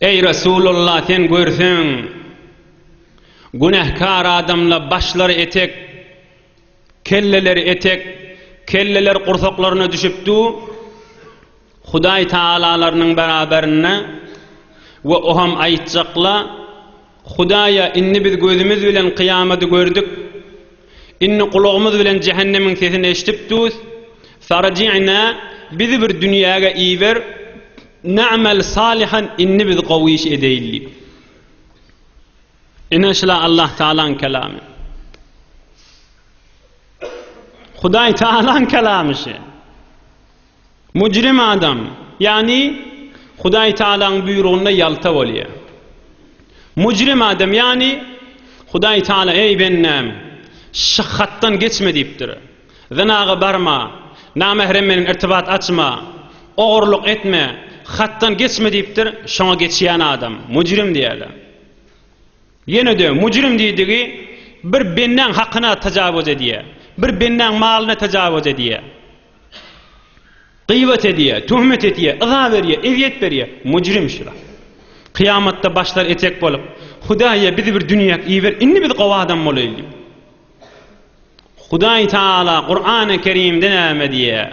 Eý Resulalla sen görseň günähkar adamla başlary etek kelleleri etek kelleler gursaklaryna düşüp du Hudaý Tagalalarnyň beraberinde we oham aýtjakla Hudaýa, indi biz gözümiz bilen kyýamaty gördük. Indi gulagymyz bilen jähennemiň sesini eşidip durus. Farji'na, bizi bir dünýäge iber, na'mel salihan, indi biz gowy iş edeýin diýip. Ine şula Allah Tagalaň kelamy. Hudaý Tagalaň kelamy şu. Müjrim adam, ýagny Hudaý Tagalaň buýrugynda ýalta bolýar. Müjrim adam, ýagny Hudaý Tagala, Eý, bendäm, şy hatdan geçme diýipdir. Zynaga barma, namährem bilen irtibat açma, ogurlyk etme, hatdan geçme diýipdir, şoňa geçýän adam, müjrim diýerler. Ýene-de müjrim diýdigi bir bendäň hakyna tajawuz edýär, bir bendäň malyna tajawuz edýär. Gyýbat edýär, töhmet edýär, yza berýär, ezýet berýär. Mujrim şular. Kyýamatda başlary etek bolup, Hudaýy bizi bir dünýäk iber, indi biz gowy adam bolaýyl diýip. Hudaý Taala Kur'an-y Kerimde näme diýýär?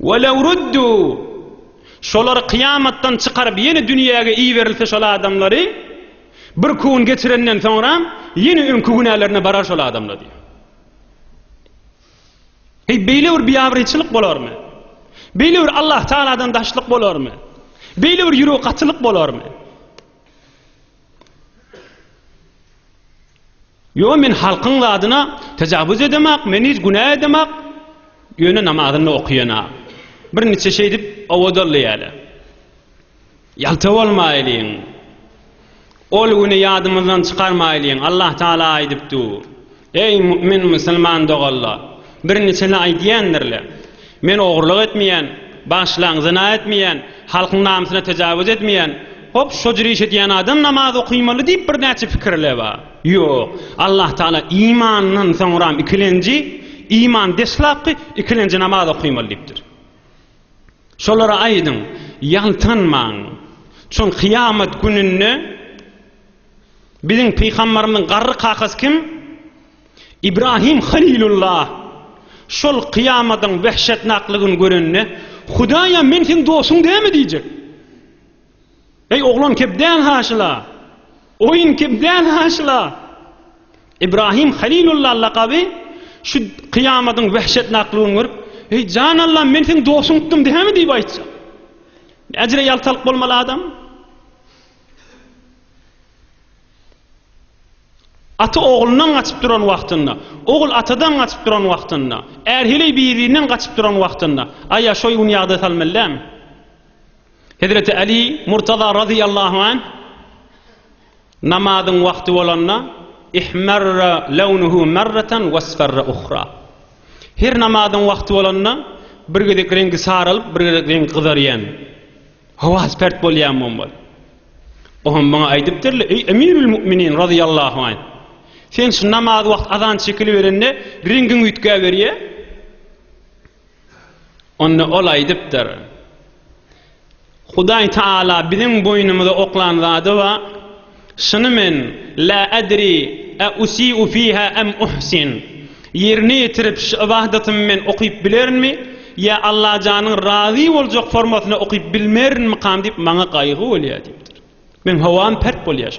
Ve lev ruddu şolary kyýamatdan çykaryp ýene dünýäge iberilse şol adamlary bir kun geçirenden soňra ýene öňki günälerine barar şol adamlar diýýär. Eý beýle bir biabryçylyk bolarmy? Beýle bir Allah Tagaladan daşlyk bolarmy? Beýle bir ýürek gatylyk bolarmy? Ýok men halkyň zadyna tajawuz edemak, men hiç günä edemak, ýöne namazynda okaýana, bir niçe şeýdip owadaldy ýaly. Ýalta bolmaýlyň. Ol güni ýadymyzdan çykarmaýlyň. Allah Taala aýdypdu. Eý mu'min musulman doganlar! Bir niçe-le aýdýandirle. Men ogurlyk etmeýän, bagşylaň zyna etmeýän, halkyň namysyna tejawuz etmeýän, hop şo jüri iş edýän adam namaz okymaly diýip birnäçe pikir le ba? Ýok. Allah Taala imandan soňram ikilenji, iman deslapky, ikilenji namaz okymaly diýipdir. Şolara aýdyň, ýaltanmaň. Çün kyýamat gününde biziň pygambarymyzyň garry kakasy kim? Ibrahim Halilulla şol kyýamadyň wähşetnaklygyny görende, Hudaýa men seň dostuň dälmi diýjek. Eý oglan kep däl haşyla. Oýun kep däl haşyla. Ibrahim Halilulla lakaby şu kyýamadyň wähşetnaklygyny görüp, Eý jan Allam men seň dostuňdym dälmi diýip aýtjak. Äjire ýaltalyk bolmaly adam. Ata oglundan gaçyp duran wagtynda, ogul atadan gaçyp duran wagtynda, är heleý bir-birinden gaçyp duran wagtynda, aýa şoý gün ýagdaý salmaly dälmi? Hezreti Aly Murtaza razyýallahu anh, Namazyň wagty bolanda, Ihmarra lawnuhu marratan wasfarra uhra. Her namazyň wagty bolanda, bir gezek reňki saralyp, bir gezek reňki gyzarýan. Howasy pert bolýanmyň bol. O hem maňa aýdypdyr-le, Eý, Emirül Mu'minin razyýallahu anh! Sen şu namaz wagt azan çekiliberende reňgiň üýtgäberýär. Onda ol aýdypdyr, Hudaý Taala biziň boýnumyza oklan zady bar. Şuny men, la adri a usiu fiha am uhsin, ýerine ýetirip şu ybadatymy men okyp bilerinmi, ýa Allajanyň razy boljak formasyna okyp bilmerinmikam diýip maňa gaýgy bolýar diýipdir. Meň howam pert bolýar.